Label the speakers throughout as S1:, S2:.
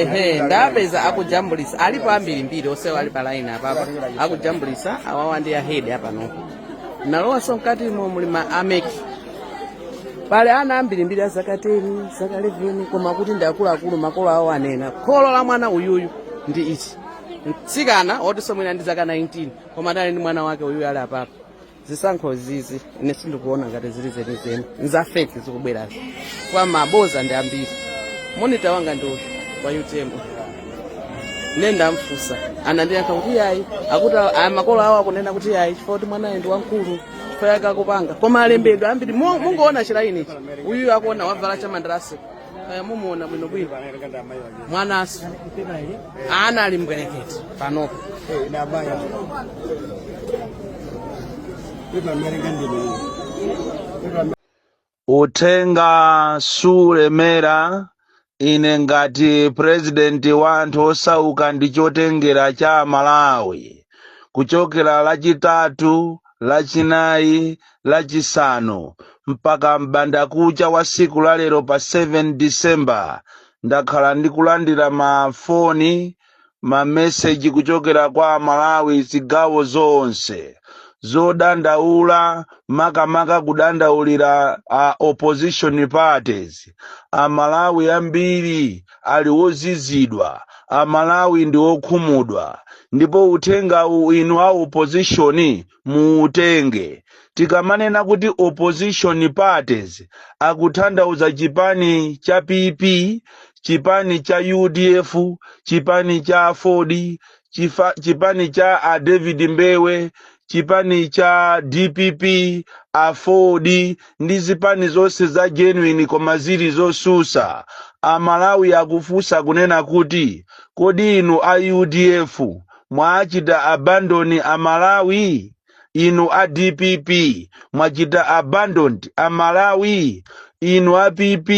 S1: ehe ndapeza akujambulisa alipo ambirimbiri onsewo ali pa line apapa akujambulisa awawa ndi ahedi apanopa nalowanso mkatimo muli ma ameki pale ana ambirimbiri azaka 10 zaka 11 koma kuti ndi akuluakulu makolo awo anena kholo la mwana uyuyu ndi ichi chitsikana otinso mwina ndi zaka 19 koma adali ndi mwana wake uyuyu ali apapa zisankho zizi ine sindikuona ngati zili zenizeni nza feki zikubwerazi kwa mabodza ndi ambiri monita wanga ndi uyu wa utm ne ndamfusa anandiyankha kuti yayi akuti a- makolo awo akunena kuti yayi chifukwa kuti mwanayo ndi wamkulu chifukwa yake akupanga koma alembedwa ambiri Mo- mungoona chilainichi uyuyo akuona wavala chamandarasi kaya mumuona bwinobwino mwanaso ana ali mbwerekete
S2: panopo uthenga suulemera ine ngati purezidenti wa anthu osauka ndi chotengera cha malawi kuchokera lachitatu lachinayi Lachisanu, mpaka m'bandakucha wa tsiku la lero pa 7 December, ndakhala ndikulandira mafoni, mameseji kuchokera kwa Amalawi zigawo zonse zodandaula, makamaka kudandaulira a opposition parties. Amalawi ambiri ali ozizidwa, Amalawi ndi okhumudwa, ndipo uthengawu inu a opposition muutenge. Tikamanena kuti opposition parties tikuthandauza chipani cha PP, chipani cha udf, chipani cha Aford, chipa, chipani cha a David Mbewe, chipani cha DPP, Aford ndi zipani zonse za genuine koma zili zotsutsa. Amalawi akufunsa kunena kuti kodi inu a udf mwachita abandon Amalawi? Inu a dpp mwachita abandoned Amalawi? Inu a PP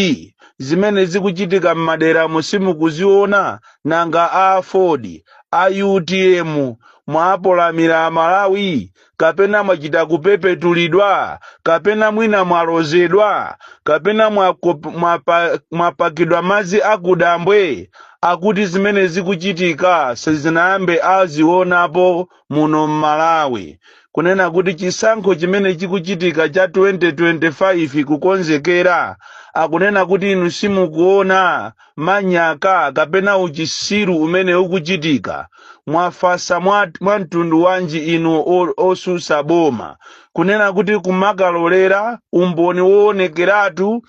S2: zimene zikuchitika m'maderamu simukuziona? Nanga a aford, a utm mwapolamira Amalawi? kapena mwachita kupepetulidwa kapena mwina mwalozedwa kapena mwakop- mwapa- mwapakidwa madzi akudambwe akuti zimene zikuchitika sizinayambe azionapo muno m'malawi kunena kuti chisankho chimene chikuchitika cha 2025 kukonzekera akunena kuti inu simukuona manyaka kapena uchisiru umene ukuchitika mwafasa mwa, mwa mtundu wanji inu o- otsutsa boma kunena kuti kumakalolera umboni woonekeratu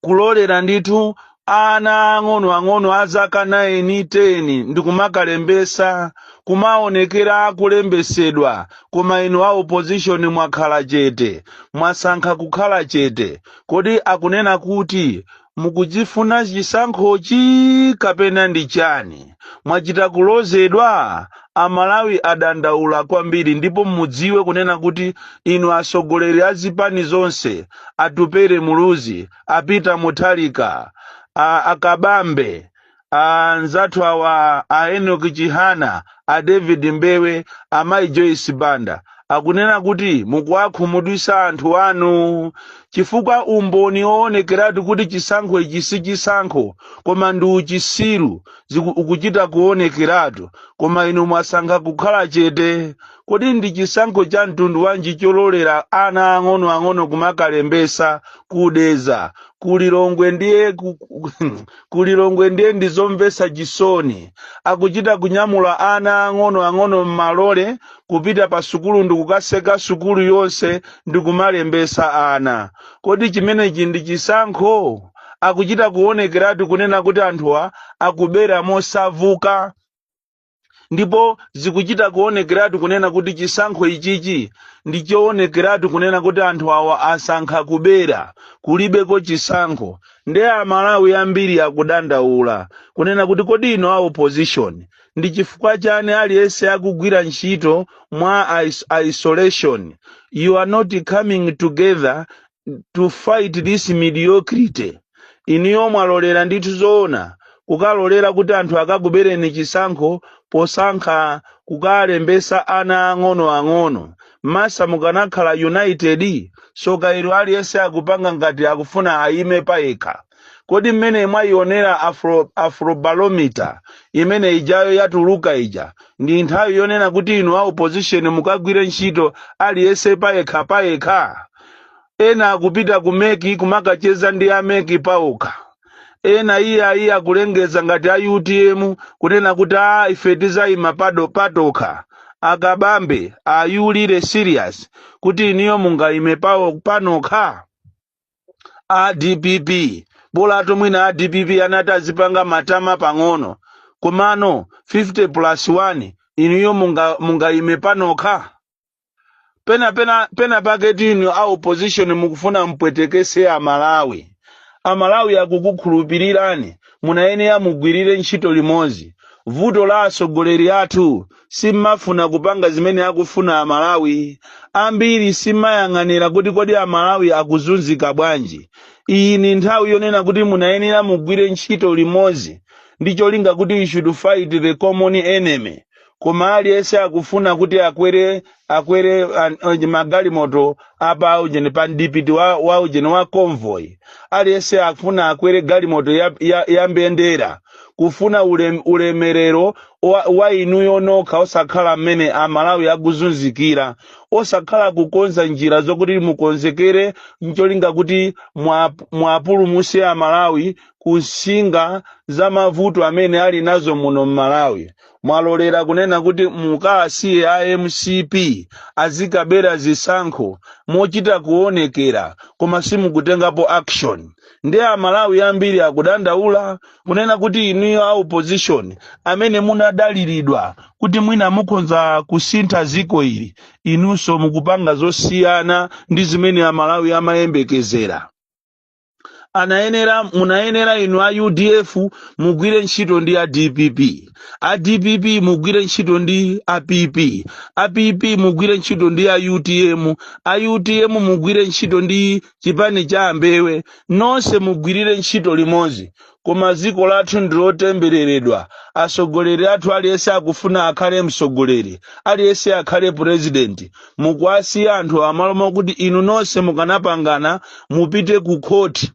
S2: kulolera ndithu ana ang'onoang'ono a zaka 9 10 ndikumakalembesa kumaonekera akulembesedwa koma inu a opposition mwakhala chete mwasankha kukhala chete kodi akunena kuti mukuchifuna chisankhochi kapena ndi chani mwachita kulozedwa amalawi adandaula kwambiri ndipo mudziwe kunena kuti inu atsogoleri a zipani zonse atupele muluzi a peter mutharika a- a kabambe anzathu awa a enoch chihana a david mbewe amayi joyce banda akunena kuti mukuwakhumudwitsa anthu anu chifukwa umboni woonekeratu kuti chisankho ichi si chisankho koma ndi uchisiru ziku- ukuchita kuonekeratu koma inu mwasankha kukhala chete kodi ndi chisankho cha mtundu wanji chololera ana ang'onoang'ono kumakalembesa kudedza kulilongwe ndiye ku- ku- ku Lilongwe ndiye ndi zomvetsa chisoni. Akuchita kunyamula ana ang'onoang'ono m'malole kupita pa sukulu ndi kukatseka sukulu yonse ndi kumalembetsa ana. Kodi chimenechi ndi chisankho? Akuchita kuonekeratu kunena kuti anthuwa akubera mosavuka. ndipo zikuchita kuonekeratu kunena kuti chisankho ichichi ndi choonekeratu kunena kuti anthu awa asankha kubera kulibeko chisankho nde amalawi ambiri akudandaula kunena kuti kodi inu a opposition ndi chifukwa chani aliyense akugwira ntchito mwa isolation you are not coming together to fight this mediocrity inuyo mwalolera ndithu zoona kukalolera kuti anthu akakubereni chisankho posankha kukalembesa ana ang'ono ang'ono mwatsatanetsatane mukanakhala united tsoka ilo aliyense akupanga ngati akufuna ayime payekha Kodi mmene mwaionera Afro, Afrobarometer imene ijayo yatuluka ija ndi nthawi yonena kuti inu a opposition mukagwire ntchito aliyense payekha payekha? Ena akupita ku mec kumakacheza ndi a mec paokha. Ena iyayi akulengeza ngati a utm kunena kuti aa ife tizaima pa- patokha. A Kabambe, are you really serious kuti inuyo mungaime pa- panokha? a dpp bolatu mwina a dpp anati azipanga matama pang'ono komano 50 plus 1 inuyo munga- mungayime panokha pena pena pena paketu inu a opposition mukufuna mpwetekese amalawi amalawi akukukhulupirirani munayenera mugwirire ntchito limodzi vuto la atsogoleri athu simmafuna kupanga zimene akufuna a Malawi ambiri simmayang'anira kuti kodi a Malawi akuzunzika bwanji. Iyi ni nthawi yonena kuti munayenera mugwire ntchito limodzi ndi cholinga kuti you should fight the common enemy koma aliyense akufuna kuti akwere akwere an- onje magalimoto apa ujeni pa mdipiti wa, wa ujeni wa convoy aliyense akufuna akwere galimoto ya, ya, ya mbendera kufuna ulem, ulemerero wa, wa inuyo nokha osakhala mmene amalawi akuzunzikira osakhala kukonza njira zokuti mukonzekere ncholinga kuti mwap- mwapulumuse amalawi kunsinga za mavuto amene ali nazo muno mmalawi mwalolera kunena kuti mukasiye a mcp azikabera zisankho mochita kuonekera koma simukutengapo action ndiye amalawi ambiri akudandaula kunena kuti inuyo a opposition amene munadaliridwa kuti mwina mukhonza kusintha ziko ili inunso mukupanga zosiyana ndi zimene amalawi amayembekezera anayenera munayenera inu a udf mugwire ntchito ndi a dpp a dpp mugwire ntchito ndi a pp a pp mugwire ntchito ndi a utm a utm mugwire ntchito ndi chipani cha a mbewe nonse mugwirire ntchito limodzi koma ziko lathu ndilotembereredwa atsogoleri athu aliyense akufuna akhale mtsogoleri aliyense akhale purezidenti mukuwasiya anthu mmalo mokuti inu nonse mukanapangana mupite ku khoti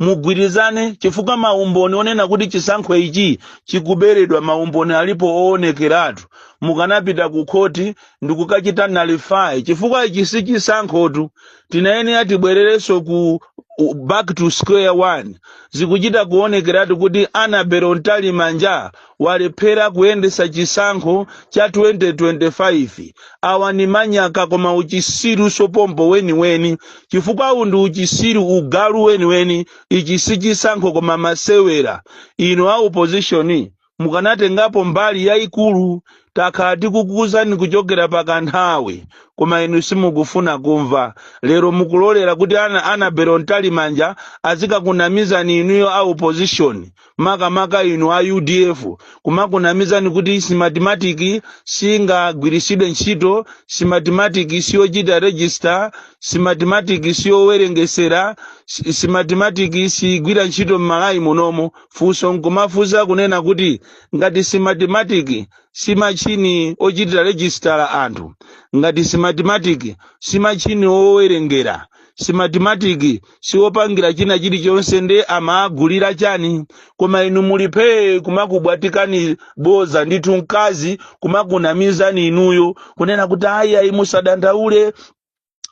S2: mugwirizane chifukwa maumboni onena kuti chisankho ichi chikuberedwa maumboni alipo oonekeratu mukanapita ku khoti ndikukachita nullify chifukwa ichi si chisankhotu tinayenera tibwererenso ku u- back to square one zikuchita kuonekeratu kuti annabel mtalimanja walephera kuyendesa chisankho cha 2025 awa ni manyaka koma uchisiru sopompo weniweni chifukwa uwu ndi uchisiru ugalu weniweni ichi si chisankho koma masewera inu a opposition mukanatengapo mbali yayikulu takhala tikukuwuzani kuchokera pa kanthawi koma inu simukufuna kumva lero mukulolera kuti ana annabel mtalimanja azikakunamizani inuyo a opposition makamaka inu a udf kumakunamizani kuti smartmatic singagwiritsidwe ntchito smartmatic siyochita register smartmatic siyowerengesera si- smartmatic sigwira ntchito m'malawi munomo funso nkumafunsa kunena kuti ngati smartmatic si machini ochitira register anthu ngati smartmatic si machini owerengera smartmatic siwopangira china chilichonse nde amaagulira chani koma inu muli phee kumakubwatikani boza ndithu mkazi kumakunamizani inuyo kunena kuti ayi ayi musadandaule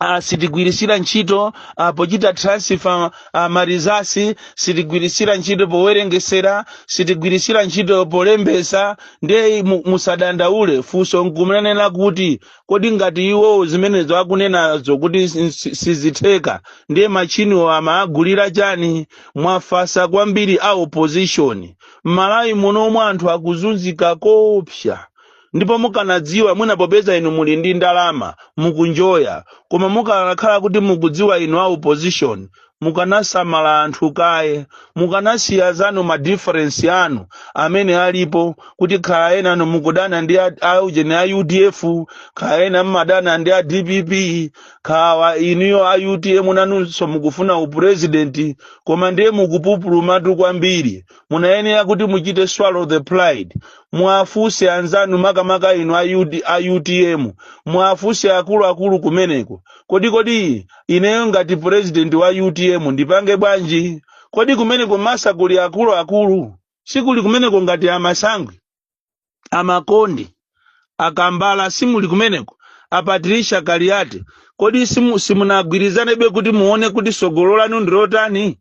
S2: Uh, sitigwirisira ntchito uh, pochita transfer uh, ma results sitigwirisira ntchito powerengesera sitigwirisira ntchito polembesa ndiye mu- musadandaule funso nkumenena kuti kodi ngati iwowo zimenezo akunenazo kuti si- si- sizitheka ndiye machiniwo amaagulira chani mwafasa kwambiri a opposition m'malawi muno omwe anthu akuzunzika koopsa ndipo mukanadziwa mwina popeza inu muli ndi ndalama mukunjoya koma mukanakhala kuti mukudziwa inu a opposition mukanasamala anthu kaye mukanasiya zanu ma difference anu amene alipo kuti khala ena anu mukudana ndi a- a ujeni a udf khala ena mmadana ndi a dpp khala inuyo a utm nanunso mukufuna upresident koma ndiye mukupupulumatu kwambiri munayenera kuti muchite swallow the pride muwafunse anzanu makamaka inu a, UD, a utm muwafunse akuluakulu kumeneko kodi kodi ineyo ngati president wa utm ndipange bwanji kodi kumeneko masa kuli akuluakulu sikuli kumeneko ngati a masangwi a makondi a kambala simuli kumeneko a patricia kaliati kodi simu- simunagwirizanebe kuti muone kuti sogolo lanu ndilotani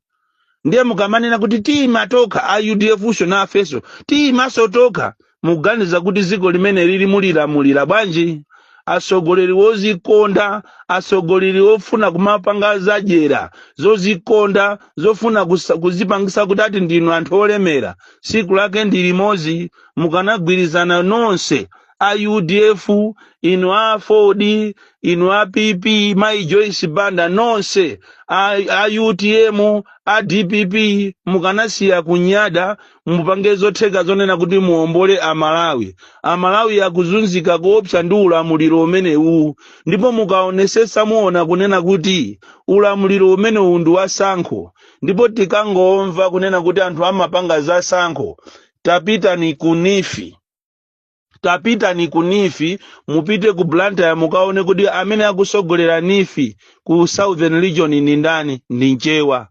S2: ndiye mukamanena kuti tiima tokha a udf sho nafeso tiimaso tokha muganiza kuti dziko limene lili mulilamulira bwanji atsogoleri wozikonda atsogoleri wofuna kumapanga zadyera zozikonda zofuna kusa- kuzipangisa kuti ati ndinu anthu olemera siku lake ndi limodzi mukanagwirizana nonse a udf inu aford inu a pp mai joyce banda nonse a, a utm a dpp mukanasiya kunyada mupange zotheka zonena kuti muombole amalawi amalawi akuzunzika koopsa ndi ulamuliro umenewu ndipo mukaonesetsa muona kunena kuti ulamuliro umenewu ndi wasankho ndipo tikangomva kunena kuti anthu amapanga zasankho tapitani ku NEEF tapitani ku NEEF mupite ku blantyre mukaone kuti amene akusogolera NEEF ku southern region ndi ndani ndi mchewa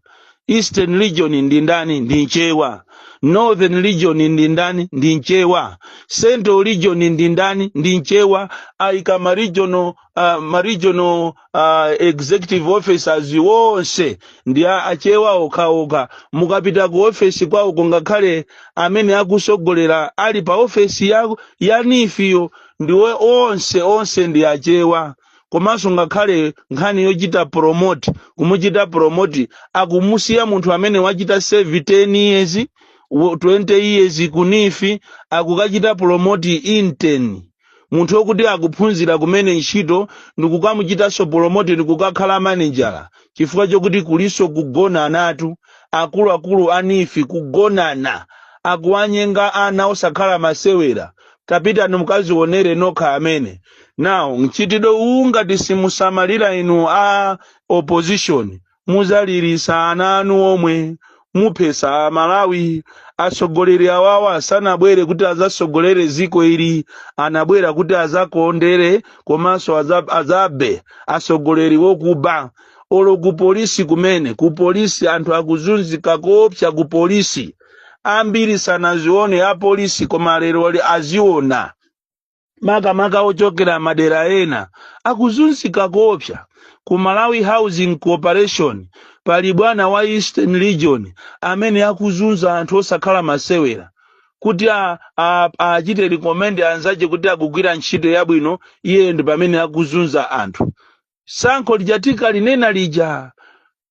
S2: eastern region ndi ndani ndi mchewa northern region ndi ndani ndi mchewa central region ndi ndani ndi mchewa aika ma regional uh, ma regional uh, executive officers wonse ndi a- achewa okhaokha mukapita ku ofesi kwawoko ngakhale amene akusogolera ali pa ofesi ya, ya NEEF-yo ndiwo onse onse ndi achewa komanso ngakhale nkhani yochita promote kumuchita promote akumusiya munthu amene wachita serve 10 years wo- 20 years ku NEEF akukachita promote intern munthu wokuti akuphunzira kumene ntchito ndikukamuchitanso promote ndikukakhala manejala chifukwa chokuti kulinso kugonanatu akuluakulu a NEEF kugonana akuwanyenga ana osakhala masewera tapitani mukazionere nokha amene now mchitidwe uwu ngati simusamalira inu a opposition muzalirisa ana anu omwe muphesa amalawi atsogoleri awawa sanabwere kuti azasogolere ziko ili anabwera kuti azakondere komanso aza- azabe atsogoleri wokuba olo ku polisi kumene ku polisi anthu akuzunzika koopsa ku polisi ambiri sanazione apolisi koma lero ali- aziona makamaka ochokera madera ena akuzunzika koopsa ku malawi housing corporation pali bwana wa eastern region amene akuzunza anthu osakhala masewera kuti a- a- achite recommend anzache kuti akugwira ntchito yabwino iye ndi pamene akuzunza anthu sankho lijatu ndikalinena lija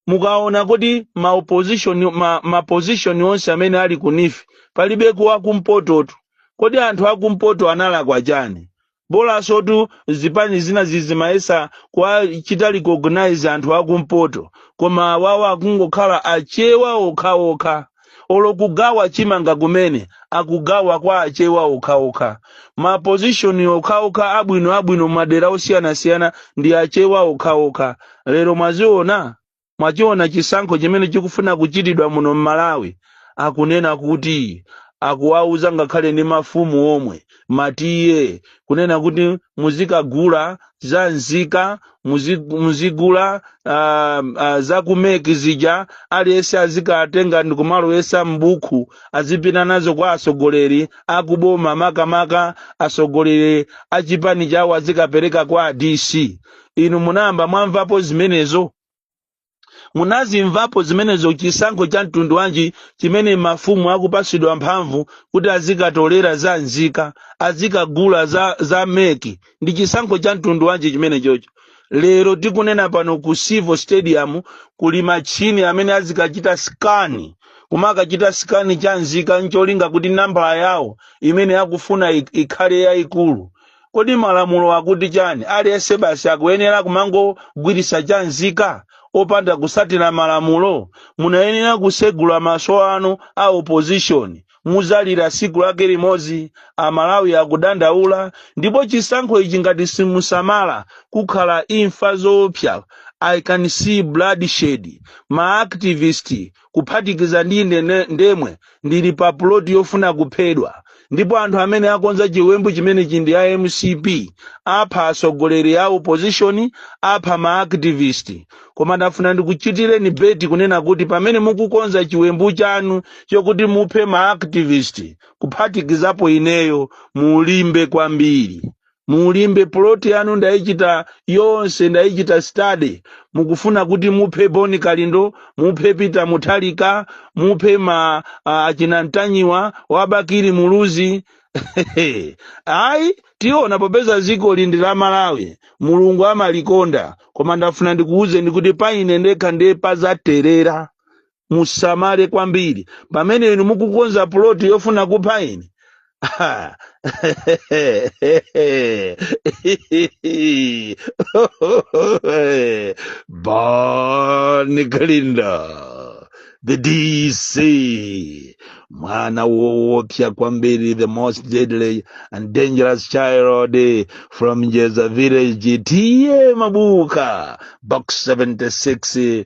S2: mukaona kuti ma opposition ma, ma position onse amene ali ku NEEF palibe ku wakumpototu kodi anthu akumpoto analakwa chani bolasotu zipani zina zizimayesa kuwachita recognize anthu akumpoto koma awawa akungokhala achewa okhaokha olo kugawa chimanga kumene akugawa kwa achewa okhaokha ma position okhaokha abwino abwino madera osiyanasiyana ndi achewa okhaokha lero mwaziona mwachiona chisankho chimene chikufuna kuchitidwa muno m'malawi akunena kuti akuwauza ngakhale ndi mafumu omwe matiye kunena kuti muzikagula za nzika muzi- muzigula ah, ah, za ku MEC zija aliyense azikatenga ndikumalowesa m'buku azipita nazo kwa atsogoleri akuboma makamaka atsogoleri achipani chawo azikapereka kwa a DC inu munayamba mwamvapo zimenezo munazimvapo zimenezo chisankho cha mtundu wanji chimene mafumu akupatsidwa mphamvu kuti azikatolera za nzika azikagula za, za meki ndi chisankho cha mtundu wanji chimene chocho lero tikunena pano ku civo stadium kuli machini amene azikachita skani kumakachita skani cha nzika ncholinga kuti nambala yawo imene akufuna ik- ikhale yayikulu Kodi malamulo akuti chani? Aliyense basi akuyenera kumangogwiritsa cha nzika opanda kusatira malamulo? Munayenera kusegula maso anu a opposition. Muzalira siku lake limodzi. Amalawi akudandaula ndipo chisankho ichi ngati simusamala kukhala imfa zoopsya. I can see bloodshed. Ma activist kuphatikiza ndi ine ne- ndemwe ndili pa puloti yofuna kuphedwa ndipo anthu amene akonza chiwembu chimenechi ndi a mcp apha atsogoleri a opposition apha ma activist koma ndafuna ndikuchitireni beti kunena kuti pamene mukukonza chiwembu chanu chokuti muphe ma activist kuphatikizapo ineyo mulimbe kwambiri mulimbe plot yanu ndaichita yonse ndaichita study mukufuna kuti muphe bon kalindo muphe peter mutharika muphe ma ah, achina mtanyiwa wa bakili muluzi ayi tiona popeza ziko ili ndi la malawi mulungu amalikonda koma ndafuna ndikuwuzeni kuti pa ine ndekha ndiye pazaterera musamale kwambiri pamene inu mukukonza puloti yofuna kupha ine Ah. Bon Kalindo, the DC, mwana woopsa kwambiri, the most deadly and dangerous child from Njeza village, T/A Mabuka, box 76,